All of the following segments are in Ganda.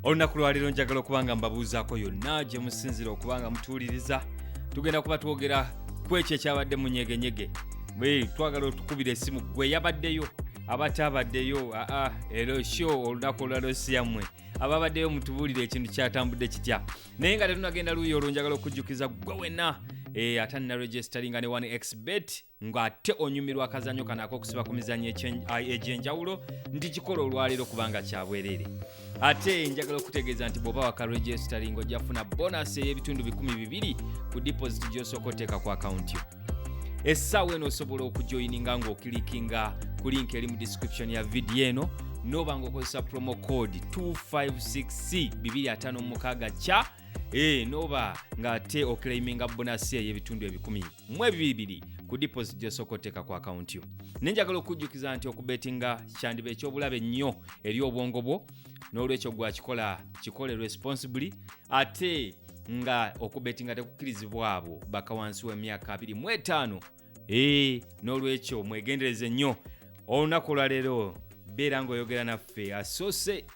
olunaku lwaleero njagala okuba nga mbabuuzaako yonna gye musinzira okuba nga mutuwuliriza tugenda kuba twogera ku ekyo ekyabadde mu nyegenyege twagala otukubira esimu gwe yabaddeyo abataabaddeyo aa ero sho olunaku olwalosiyammwe ababaddeyo mutubuulire ekintu kyatambudde kitya naye nga tetunagenda luuyi olwo njagala okujjukiza ggwe wenna eh, ate nnaregisteringa ne 1 xbet ng'ate onyumirwa akazanyo kano ak'okusiba ku mizanyo egy'enjawulo nti kikola olwaleero kubanga kyabwereere ate njagala okutegeeza nti bw'oba wakaregistering ojja kufuna bonasi ey'ebitundu bikumi bibiri ku deposit gy'osooka oteeka ku akawunti yo essaawa eno osobola okujoyininga ng'okilikinga ku link eri mu description ya vidiyo eno noba nga okozesa promo code 256 256 kya e noba ng'ate okilaiminga bonasi ey'ebitundu ebikumi mu ebibiri ku deposit gyosooka oteeka ku akawunti yo naye njagala okujjukiza nti okubetinga kyandiba ekyobulabe ennyo eri obwongo bwo n'olwekyo gwakikola kikole responsibly ate nga okubetinga tekukkirizibwa abo bakawansi w'emyaka 25 ee n'olwekyo mwegendereze nnyo olunaku olwaleero beera ng'oyogera naffe asoose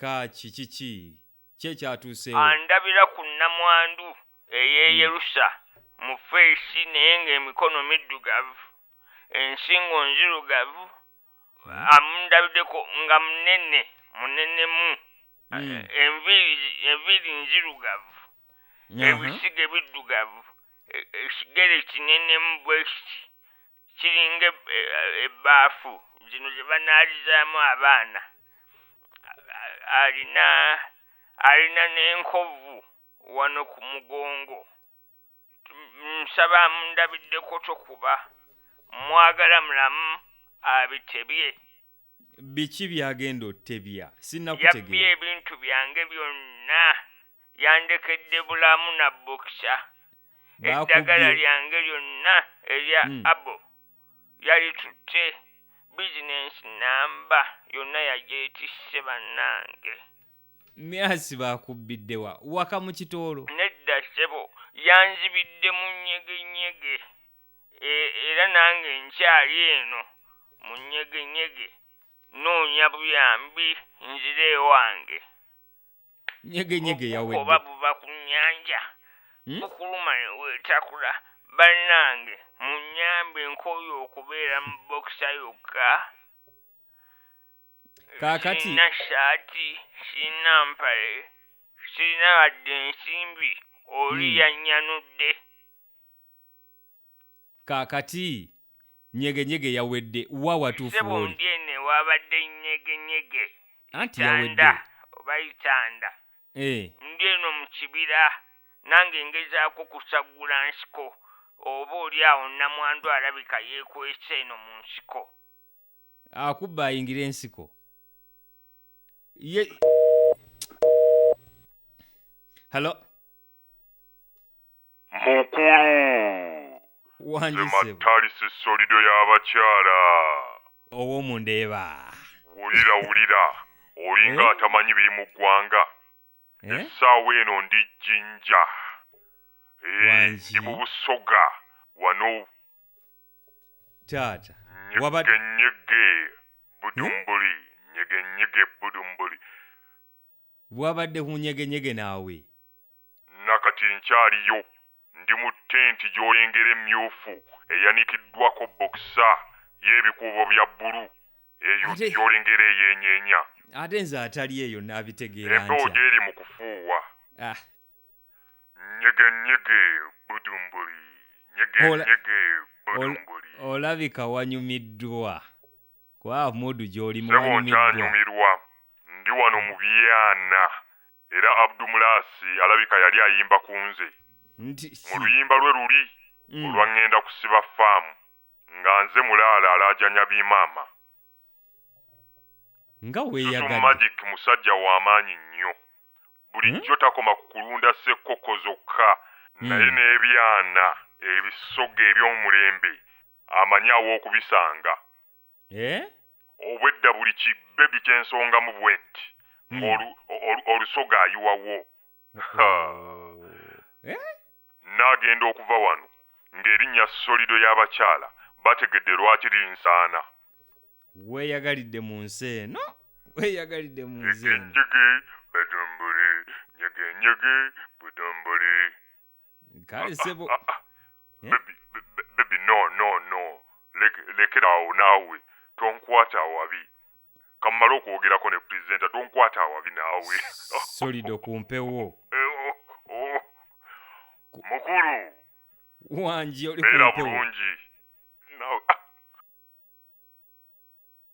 Kaaki kiki ki ekyatuuseewo? Andabira ku nnamwandu ey'eyerusa mu ffeesi naye ng'emikono middugavu, ensingo nzirugavu, amundabideko nga munene munenemu, enviiri enviiri nzirugavu, ebisiige biddugavu, ekigere kinenemu bwekiti. kiringa ebbaafu zino ze banaalizaamu abaana, alina alina n'enkovu wano ku mugongo, nsaba amundabiddeko tokuba, mmwagala mulamu abitebye. biki byagenda otebya sinakutegeera ebintu byange byonna yandekedde bulamu na bokisa eddagala lyange lyonna erya hmm. abo yalitutte bizinensi namba yonna yagyetisse bannange myasi bakubbiddewa waka mu kitoolo nedda sebo yanzibidde mu nyegenyege e, era nange nkyali eno mu nyegenyege noonya buyambi nzire ewange nyegenyege yawedde oba buva ku nnyanja hmm? bukuluma ne weetakula bannange munnyambe nkooye okubeera mu bokisa yokka kaakati sirina shaati sirina mpale sirina wadde ensimbi oli hmm. yannyanudde Kaakati, nnyegenyege yawedde. Wa watuufu Ssebo, w'oli? mby eno ewabadde nnyegenyege, Anti yawedde. itanda, oba itanda. Eh. Mby eno mu kibira, nange ngezaako kusaggula nsiko, oba oli awo nnamwandu alabika yeekwese eno mu nsiko. akubba ayingira ensiko ye halo mukulu wandise zemattalisi solido y'abakyala owomundeeba wulira wulira olinga Eh? atamanyi biri mu ggwanga Eh? essaawa eno ndi jinja Eh, Wangi. ndi mu busoga wano taata wabadde nyegenyege budumbuli nyegenyege budumbuli wabadde kunyegenyege naawe nakati nkyaliyo Ndi mu tenti gy'olengera emmyufu eyanikiddwako bbokisa y'ebikuubo bya bbulu, eyo Ate- gy'olengera eyeenyeenya. ate nze atali eyo naabitegeera Empewo ntya gy'eri mu kufuuwa. Ah, Nyege nyege budumbuli. Nyege Ola- nyege ol- budumbuli. olabika wanyumiddwa kuba muudu gy'olimu Sebo wanyumiddwa nkyanyumirwa. Ndi wano mu byana. Era Abdu Mulaasi alabika yali ayimba ku nze Nti mu si. luyimba lwe luli Mm. olwa Ng'enda kusiba ffaamu nga nze mulaala alaajanya bimaama. Nga Zuzu weeyagadde. Magic musajja wa maanyi nnyo. Bulijjo takoma ku kulunda ssekkokko zokka naye Mm. n'ebyana ebisogga eby'omulembe amanyi aw'okubisanga. Eh? obwedda buli ki bebi kyensongamu bwetti Hmm. ng'olu- olu- olusoga ayiwawo Ha. Eh? naagenda okuva wano ng'erinnya solido y'abakyala bategedde lwaki linsaana Weeyagalidde mu nsi eno. Weeyagalidde mu nsi eno. nyegenyege betumbule nyegenyege betumbule kale sebo Ah, ah. Eh? Baby, be- be- baby no no no Leke- lekera awo naawe tonkwata awabi kamumala okwogerako ne presenter tonkwata awabi naawe solido kumpewo Eh, oh, oh. mukulu wangi oli beera kumpewo bulungi naawe ah,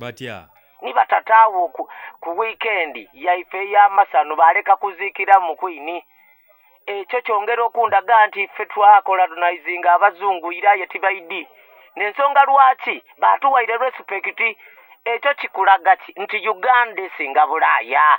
batya ni batata awo ku, ku wiikendi yaife ey'amasano baaleka kuziikira mu kwini ekyo kyongera okundaga nti ffe twakolonizinga abazungu ira ye tibaidi nensonga lwaki baatuwaire respekiti ekyo kikulaga ki nti uganda esinga bulaaya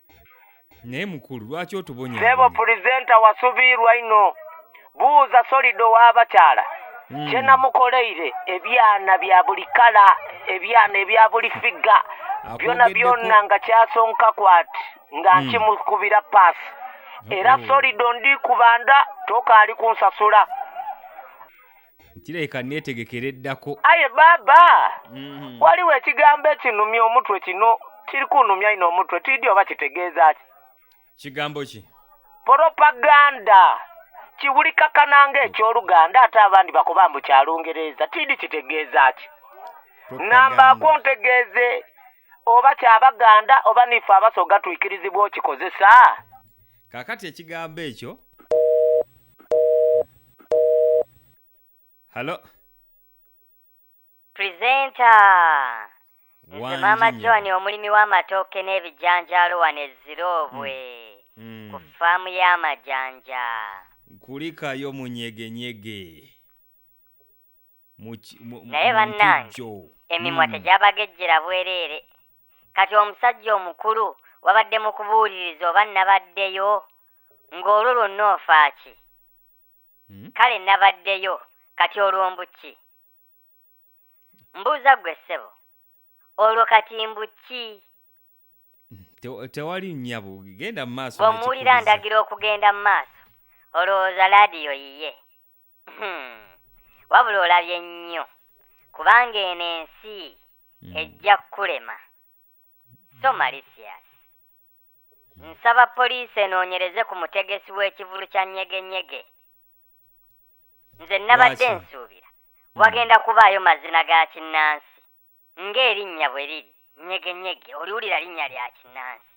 naye mukulu lwaki otubonya sebo pulizenta wasubiirwa ino buuza solido w'abakyala hmm. kye namukoleire ebyana bya buli kala ebyana ebya buli figga byona byona nga kyasonka kwati nga hmm. nkimukubira paasi era solido ndi kubanda tokaali kunsasula kirabika neetegekera eddako aye baaba Mhm. waliwo ekigambo ekinumya omutwe kino kiri kunumya ino omutwe tiidi oba kitegeeza ki kigambo ki propaganda kiwulikakana ng'ekyoluganda ate abandi bakuba mbu kya lungereza tiidi kitegeeza ki nambaako Propaganda. ntegeeze oba kyabaganda oba nife abasoga tuikirizibwa okikozesa kaakati ekigambo ekyo halo Presenter! Nze Wangi Maama nnyama. John omulimi w'amatooke n'ebijanjaalo wano e Ziroobwe Mm. ku ffaamu y'amajanja. kulikayo munyegenyege naye bannange emimwa hmm. tegyabagejjera bwereere kati omusajja omukulu wabadde mu kubuuliriza oba nabaddeyo ng'olwo lwonna ofaaki hmm? kale nabaddeyo kati olwo mbuki mbuuza ggwe ssebo olwo kati mbuki Te- tewali nyabo genda mu maaso bw'omuwulira n'ekikubizza. ndagira okugenda mu maaso olowooza laadiyo yiye Hmm. wabula olabye nnyo kubanga eno ensi Mm. ejja kukulema so malicious nsaba poliisi enoonyereze ku mutegesi w'ekivulu kya nyegenyege nze nabadde Lwaki? nsuubira wagenda kubaayo mazina ga kinnansi Ng'erinnya bwe liri Nyegenyege oliwulira linnya lya kinnansi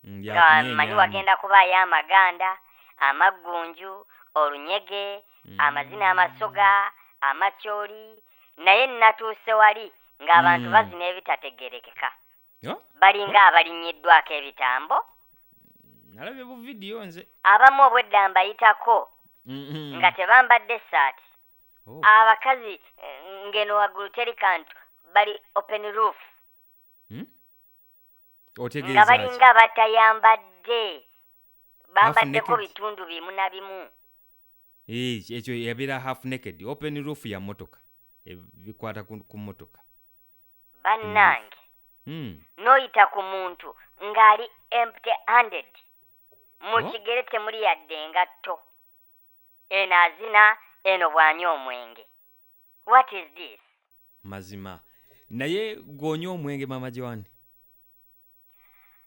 Mm, lya nga manyi kunyeenyaamu. wagenda kubaayo amaganda, amaggunju, olunyege, Mm. amazina amasoga, amacooli naye nnatuuse wali ng'abantu Mm. bazina ebitategeerekeka Oh, balinga abalinnyiddwako ebitambo nalabye bu vidiyo nze abamu obwedda mbayitako Mm, mm. nga tebambadde ssaati Oh. Abakazi eh, ngeno wagulu teri kantu bali open roof. Hmm? Otegeeza nga balinga batayambadde bambaddeko bitundu bimu na bimu. Eh, ekyo yabeera half naked open roof ya motoka eh, bikwata ku motoka bannange hmm. n'oyita ku muntu ng'ali empty handed mu oh. kigere temuli yadde engatto Eno azina eno bwanywa omwenge what is this. Mazima naye gwonywa omwenge mama Joan.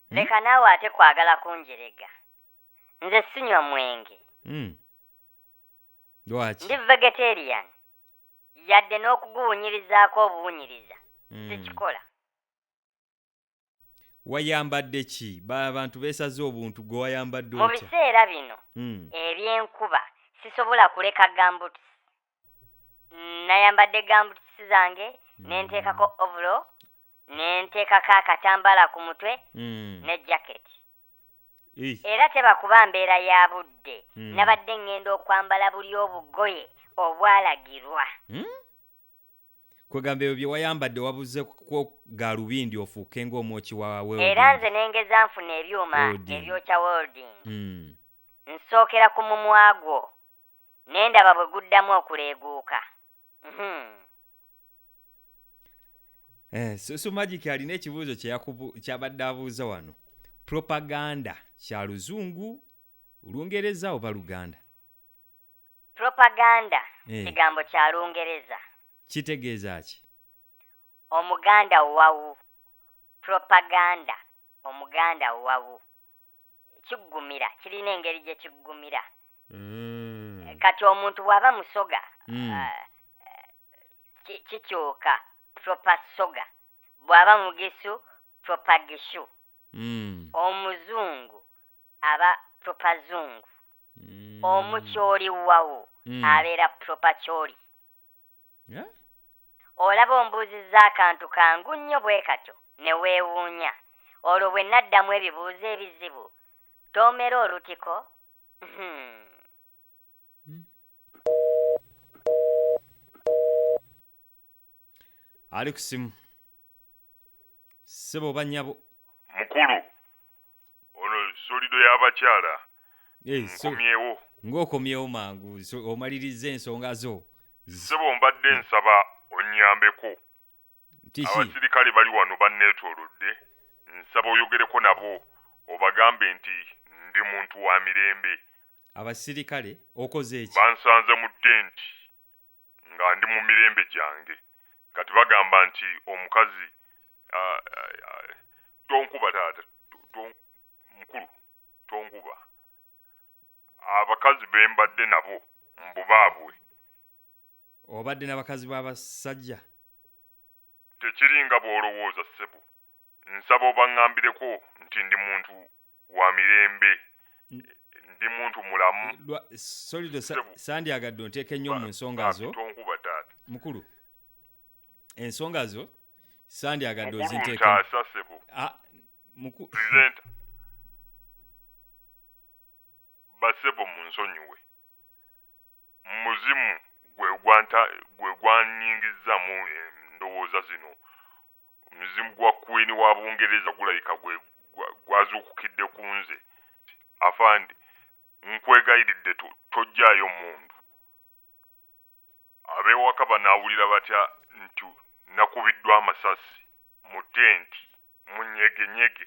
Hmm? Leka naawe ate kwagala kunjerega. Nze sinywa mwenge. Hmm. Lwaki? Ndi vegetarian. Yadde n'okuguwunyirizaako obuwunyiriza. Hmm. Sikikola. wayambadde ki abantu beesaze obuntu gwe wayambadde mu biseera bino hmm. ebyenkuba sisobola kuleka gambuts nayambadde gambuts zange hmm. nenteekako ovulo nenteekako akatambala ku mutwe hmm. ne jaketi era tebakuba mbeera ya budde nabadde ŋŋenda okwambala buli obugoye obwalagirwa kwegamba ebyo bye wayambadde wabuze kwo galubindi ofuuke ng'omwoki wa era nze ne ngeza nfuna ebyuma Welding. ebyokya welding Mm. nsookera ku mumwa gwo ne ndaba bwe guddamu okuleeguuka Mhm. Eh, so, so magic alina ekibuuzo kye yakubu- kyabadde abuuza wano propaganda kya luzungu lungereza oba luganda Propaganda Eh. kigambo kya Lungereza. Kitegeeza ki? Omuganda wawu. Propaganda, Omuganda wawu. Kiggumira, kirina engeri gye kiggumira. Mm. Kati omuntu bw'aba Musoga, Mm. ah, eh, ki- kikyuka proper soga. Bw'aba Mugisu, proper Gishu. Mm. Omuzungu aba proper zungu omu kyoli wawu abeera proper kyoli olaba ombuuzizza akantu kangu nnyo bwekatyo ne weewuunya olwo bwe naddamu ebibuuzo ebizibu tomera olutiko uhmm. ali ku simu sebo oba nyabo mukulu ono solido y'abakyala Eh, so- nkomyewo ng'okomyewo mangu so- omalirizza ensonga zo sebo mbadde nsaba onnyambeko Abasirikale bali wano banneetoolodde. Nsaba oyogereko nabo obagambe nti ndi muntu wa mirembe. Abasirikale, Okoze ki? Bansanze mu tenti nga ndi mu mirembe gyange. Kati bagamba nti omukazi, ah, ah, tonkuba taata, to, mukulu, tonkuba. Abakazi be mbadde nabo mbu baabwe. obadde na bakazi b'abasajja tekiri nga bw'olowooza ssebo nsaba obaŋŋambireko nti ndi muntu wa mirembe ndi muntu mulamu eh, solido sandyagadde onteeka ennyo mu nsonga zo tonkuba taata mukulu ensonga zo sandyagadde ozinteeka ah, basebo mu nsonyiwe Muzimu gwe gwanta gwe gwanyingizza mu endowooza zino. Omuzimu gwa Queen wa Bungereza gulabika gwe gwazuukukidde ku nze. Afande, nkwegayiridde to, tojjaayo mmundu. Ab'ewaka banaawulira batya nti nakubiddwa amasasi mu tenti? Munyegenyege.